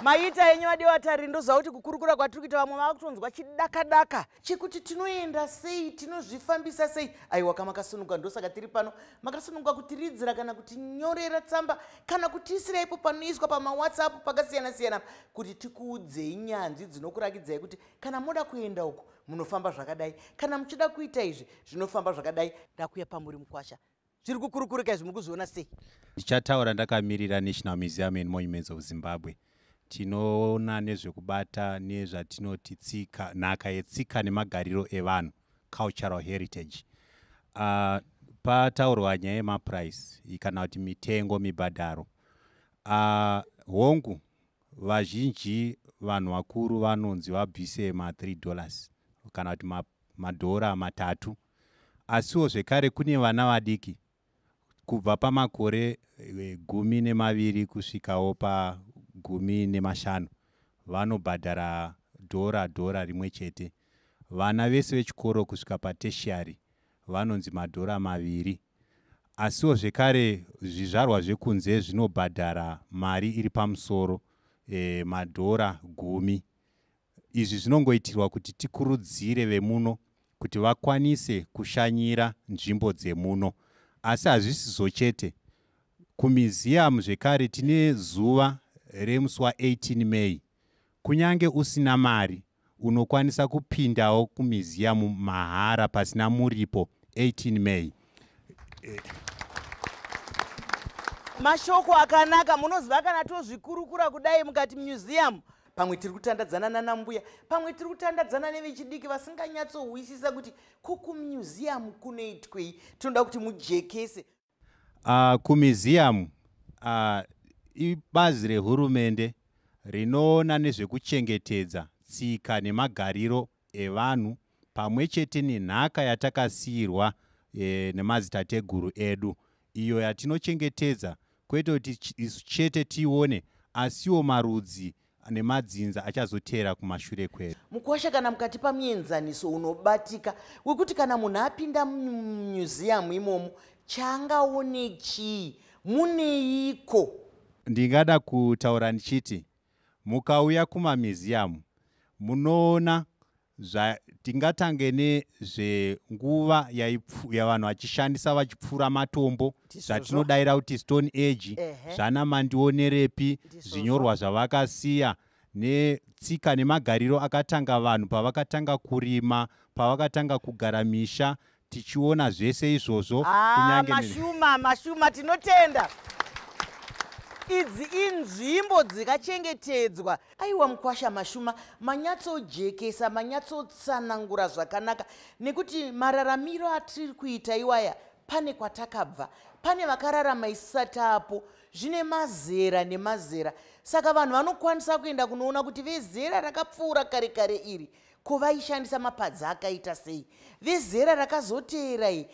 maita henyu vadiwa tari ndoziva kuti kukurukura kwatiri kuita vamwe vava kutonzwa chidakadaka chekuti tinoenda sei tinozvifambisa sei aiwa ka makasununguka ndosaka tiri pano makasununguka kutiridzira kana kutinyorera tsamba kana kutiisira ipo panoiswa pamawhatsapp pakasiyana-siyana kuti tikuudzei nyanzvi dzinokurakidzai kuti kana moda kuenda uku munofamba zvakadai kana muchida kuita izvi zvinofamba zvakadai ndakuya pamuri mukwasha zviri kukurukurika izvi muri kuzviona sei ndichataura ndakamirira national museum and monuments of zimbabwe tinoona nezvekubata nezvatinoti tsika nhaka yetsika nemagariro evanhu cultural heritage uh, pataurwa nyaya yemaprice kana kuti mitengo mibhadharo uh, hongu Vazhinji vanhu vakuru vanonzi vabvise ma 3 dollars kana kuti ma madhora matatu asiwo zvekare kune vana vadiki kubva pamakore eh, gumi nemaviri kusvikawo pagumi nemashanu vanobhadhara dhora dhora rimwe chete vana vese vechikoro kusvika pateshiari vanonzi madhora maviri Asiwo zvekare zvizvarwa zvekunze zvinobhadhara mari iri pamusoro, e, madhora gumi. Izvi zvinongoitirwa kuti tikurudzire vemuno kuti vakwanise kushanyira nzvimbo dzemuno. Asi hazvisizo chete. Kumiziyamu zvekare tine zuva remusi wa 18 May Kunyange usina mari, unokwanisa kupindawo kumiziyamu mahara pasina muripo 18 May. Mashoko akanaka munoziva kana tozvikurukura kudai mukati museum pamwe tiri kutandadzana nanambuya pamwe tiri kutandadzana nevechidiki vasinganyatsohwisisa kuti ko kumuseum kunoitwei tinoda kuti mujekese Uh, kumiziyamu uh, ibazi rehurumende rinoona nezvekuchengetedza tsika nemagariro evanhu pamwe chete nenhaka yatakasiirwa e, nemadzitateguru edu iyo yatinochengetedza kwete kuti isu chete tione asiwo marudzi nemadzinza achazoteera kumashure kwedu mukwasha kana mukati pamuenzaniso unobatika wekuti kana munhu apinda mumuseum imomo chaangaone chii muneiko ndingada kutaura ndichiti mukauya kumamuseum munoona zva tingatange nezvenguva yavanhu vachishandisa vachipfuura matombo zvatinodaira kuti stone age zvana mandionerepi zvinyorwa zvavakasiya netsika nemagariro akatanga vanhu pavakatanga kurima pavakatanga kugara misha tichiona zvese izvozvo ah, mashuma mashuma tinotenda idzi inzvimbo dzikachengetedzwa aiwa mukwasha mashuma manyatsojekesa manyatsotsanangura zvakanaka nekuti mararamiro atiri kuita iwaya pane kwatakabva pane vakararama isisati apo zvine mazera nemazera saka vanhu vanokwanisa kuenda kunoona kuti vezera rakapfuura kare kare iri Ko vaishandisa mapadza akaita sei? Vezera rakazoteera iyi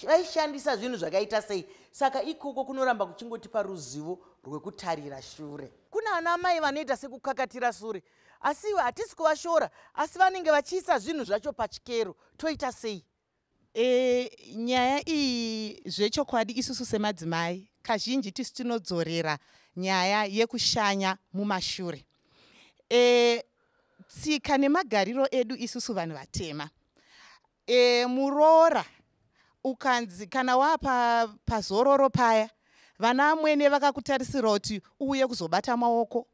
vaishandisa zvinhu zvakaita sei? Saka ikoko kunoramba kuchingotipa ruzivo rwekutarira shure. Kuna ana amai vanoita sekukakatira sure asi iwe hatisi kuvashora asi vanenge vachiisa zvinhu zvacho pachikero toita sei? E, nyaya iyi zvechokwadi isusu semadzimai kazhinji tisu tinodzorera nyaya yekushanya mumashure. E, tsika nemagariro edu isusu vanhu vatema. E, muroora ukanzi kana wapa pazororo paya vana amwene vakakutarisira kuti uuye kuzobata maoko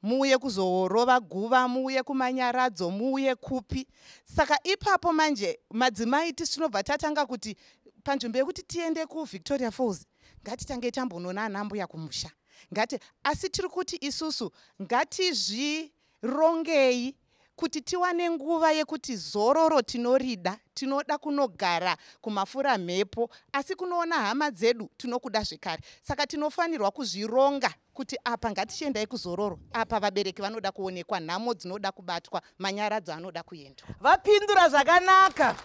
muuye kuzorova guva muuye kumanyaradzo muuye kupi saka ipapo manje madzimai tisu tinobva tatanga kuti panzvimbo yekuti tiende kuvictoria falls ngatitange tambonoona anambuya kumusha ngati asi tiri kuti isusu ngatizvirongei Kuti tiwane nguva yekuti zororo tinorida, tinoda kunogara kumafuramhepo, asi kunoona hama dzedu tinokuda zvekare. Saka tinofanirwa kuzvironga kuti apa ngatichiendai kuzororo, apa vabereki vanoda kuonekwa, nhamo dzinoda kubatwa, manyaradzo anoda kuendwa. Vapindura zvakanaka.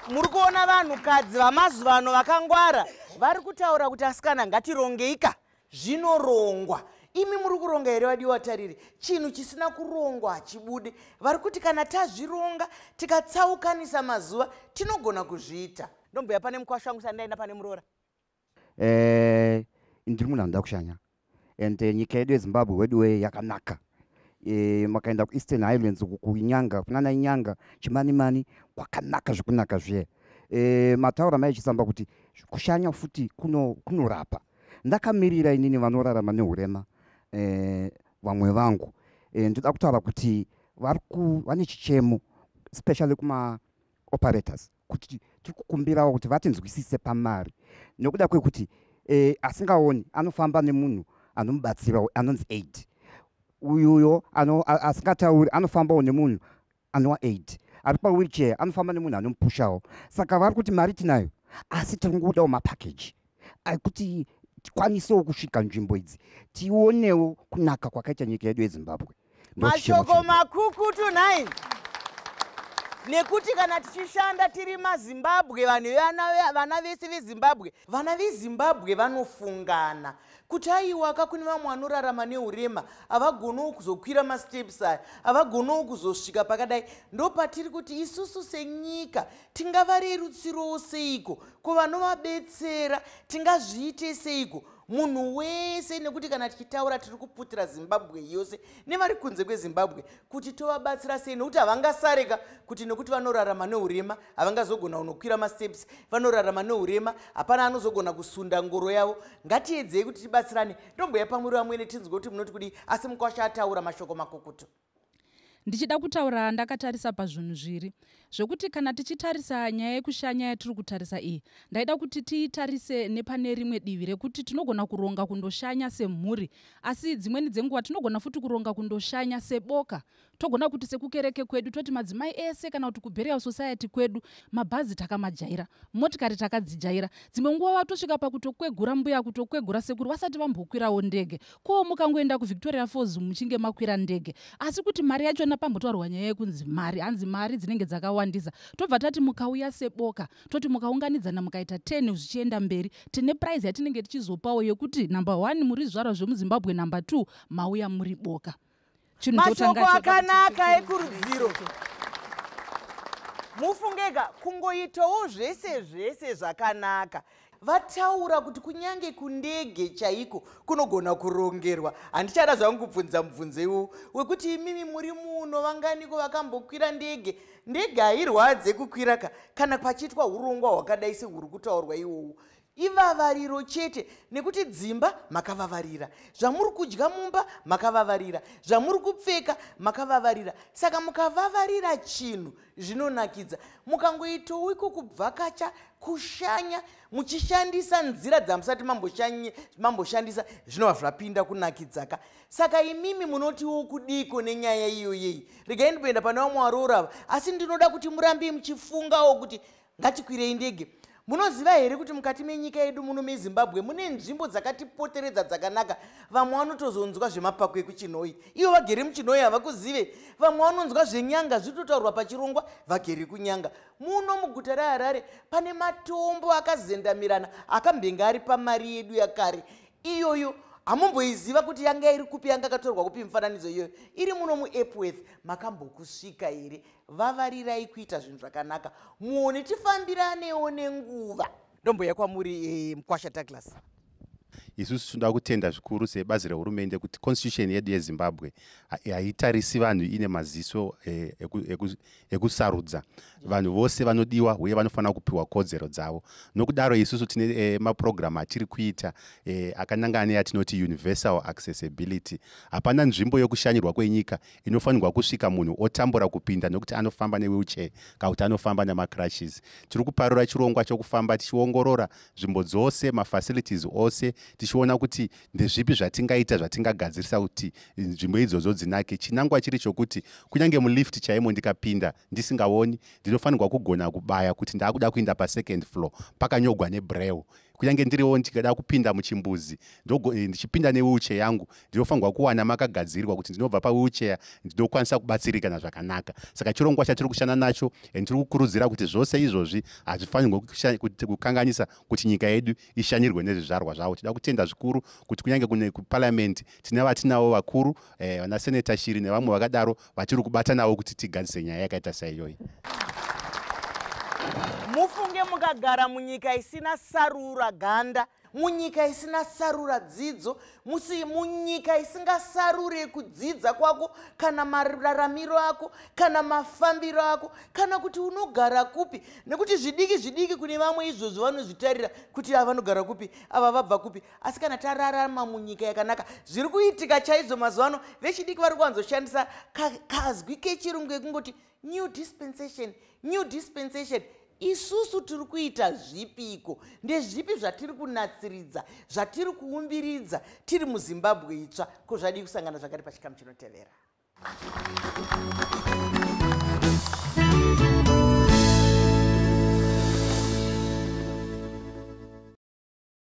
Muri kuona vanhukadzi vamazuva ano vakangwara vari kutaura kuti asikana ngatirongeika zvinorongwa imi muri kuronga here vadiwa tariri chinhu chisina kurongwa hachibude vari kuti kana tazvironga tikatsaukanisa mazuva tinogona kuzviita ndombuya pane mukwasha wangu sandaenda pane muroora eh, ndiri munhu anoda kushanya and eh, nyika yedu yezimbabwe wedu wee yakanaka eh, makaenda kueastern highlands uku kunyanga kunana inyanga chimanimani kwakanaka zvekunaka zviye mataura maichisamba kuti kushanya futi kunorapa kuno ndakamirira inini vanorarama neurema eh, vamwe vangu eh, ndoda kutaura kuti vari vane chichemo especially kuma operators kuti tiri kukumbirawo kuti vatinzwisise pamari nokuda kwekuti eh, asingaoni anofamba nemunhu anomubatsirawo anonzi aid uyuyo asingatauri anofambawo nemunhu anowa aid ari pawheelchair anofamba nemunhu anomupushawo saka vari kuti mari tinayo asi tiri kungodawo mapackage ekuti tikwanisewo kusvika nzvimbo idzi tionewo kunaka kwakaita nyika yedu yezimbabwe mashoko makukutu nhai nekuti kana tichishanda tiri mazimbabwe vanhu vana vese vezimbabwe vana vezimbabwe vanofungana kuti aiwaka kune vamwe vanorarama neurema havagonowo kuzokwira masteps aya havagonowo kuzosvika pakadai ndopatiri kuti isusu senyika tingavarerutsirowo seiko ko vanovabetsera tingazviite seiko munhu wese nekuti kana tichitaura tiri kuputira zimbabwe yose nevari kunze kwezimbabwe kuti tovabatsira sei nokuti havangasareka kuti nokuti vanorarama neurema havangazogona kunokwira masteps vanorarama neurema hapana anozogona kusunda ngoro yavo ngatiedzei kuti tibatsirane ndomboya pamuri vamwene tinzwe kuti munoti kudii asi mukwasha ataura mashoko makukutu ndichida kutaura ndakatarisa pazvinhu zviri zvekuti kana tichitarisa nyaya yekushanya yatiri kutarisa iyi ndaida kuti tiitarise nepane rimwe divi rekuti tinogona kuronga kundoshanya semhuri asi dzimweni dzenguva tinogona futi kuronga kundoshanya seboka togona kuti sekukereke kwedu toti madzimai ese kana kuti kuburial society kwedu mabhazi takamajaira motikari takadzijaira dzimwe nguva vatosvika pakutokwegura mbuya kutokwegura sekuru vasati vambokwirawo ndege Ko mukangoenda kuVictoria Falls muchinge makwira ndege. Asi kuti mari yachona pambotaurwa nyaya yekunzi mari, hanzi mari dzinenge dzakawandisa. Tobva tati mukauya seboka, toti mukaunganidzana mukaita 10 zvichienda mberi, tine prize yatinenge tichizopawo yekuti number one muri zvizvarwa zvemuZimbabwe number two mauya muri boka. mashoko akanaka ekurudziro mufungeka kungoitawo zvese zvese zvakanaka vataura kuti kunyange kundege chaiko kunogona kurongerwa handichada zvangu kubvunza mubvunzo iwowo wekuti imimi muri muno vanganiko vakambokwira ndege ndege hairwadze kukwira ka kana pachiitwa urongwa hwakadai sehuri kutaurwa iwowo ivavariro chete nekuti dzimba makavavarira zvamuri kudya mumba makavavarira zvamuri kupfeka makavavarira saka mukavavarira chinhu zvinonakidza mukangoitawo iko kubvakacha kushanya muchishandisa nzira dzamusati mamboshandisa zvinova zvapinda kunakidzaka saka imimi munotiwo kudiko nenyaya iyoyeyi regai ndimboenda pane vamwe varoora ava asi ndinoda kuti murambe muchifungawo kuti ngatikwirei ndege munoziva here kuti mukati menyika yedu muno mezimbabwe mune nzvimbo dzakatipoteredza dzakanaka vamwe vanotozonzwa zvemapako ekuchinoi ivo vagere muchinoi havakuzive vamwe vanonzwa zvenyanga zvitotaurwa pachirongwa vagere kunyanga muno muguta reharare pane matombo akazendamirana akambenge ari pamari yedu yakare iyoyo hamumboiziva kuti yanga iri kupi yanga akatorwa kupi mifananidzo iyoyo iri muno muepworth makambokusvika here vavarirai kuita zvinhu zvakanaka muone tifambiranewo nenguva ndomboya kwamuri e, mkwasha douglas isusu tinoda kutenda zvikuru sebazi rehurumende kuti constitution yedu yezimbabwe haitarisi vanhu ine maziso e, ekusarudza vanhu vose vanodiwa uye vanofanira kupiwa kodzero dzavo nokudaro isusu tine e, mapurogiramu atiri kuita e, akanangana neyatinoti universal accessibility hapana nzvimbo yokushanyirwa kwenyika inofanirwa kusvika munhu otambura kupinda nekuti anofamba newheelchair kana kuti anofamba nemacrushes tiri kuparura chirongwa chokufamba tichiongorora nzvimbo dzose mafacilities ose tichiona kuti ndezvipi zvatingaita zvatingagadzirisa kuti nzvimbo idzodzo dzinake chinangwa chiri chokuti kunyange mulift chaimo ndikapinda ndisingaoni ndinofanirwa kugona kubaya kuti ndaakuda kuinda pasecond floor pakanyogwa nebreu kunyange ndiriwo ndikada kupinda muchimbuzi eh, ndichipinda newheelchair yangu ndinofanirwa kuwana makagadzirwa kuti ndinobva pawheelchair ndinokwanisa kubatsirikana zvakanaka saka chirongwa chatiri kushanda nacho and tiri kukurudzira kuti zvose izvozvi hazvifanirwe kukanganisa kuti nyika yedu ishanyirwe nezvizvarwa zvavo tida kutenda zvikuru kuti kunyange kune kuparliament tine vatinavo vakuru eh, vana seneta shiri nevamwe vakadaro vatiri kubata navo kuti tigadzise nyaya yakaita saiyoyi mufunge mukagara munyika isina sarura ganda munyika isina sarura dzidzo musi munyika isingasarure kudzidza kwako kana mararamiro ako kana mafambiro ako kana kuti unogara kupi nekuti zvidiki zvidiki kune vamwe izvozvo vanozvitarira kuti ava vanogara kupi ava vabva kupi asi kana tararama munyika yakanaka zviri kuitika chaizvo mazuva ano vechidiki vari kuwanzoshandisa kazwi kechirungu ekungoti new dispensation new dispensation isusu tiri kuita zvipiko ndezvipi zvatiri kunatsiridza zvatiri kuumbiridza tiri muzimbabwe itsva ko zvadii kusangana zvakati pachikamu chinotevera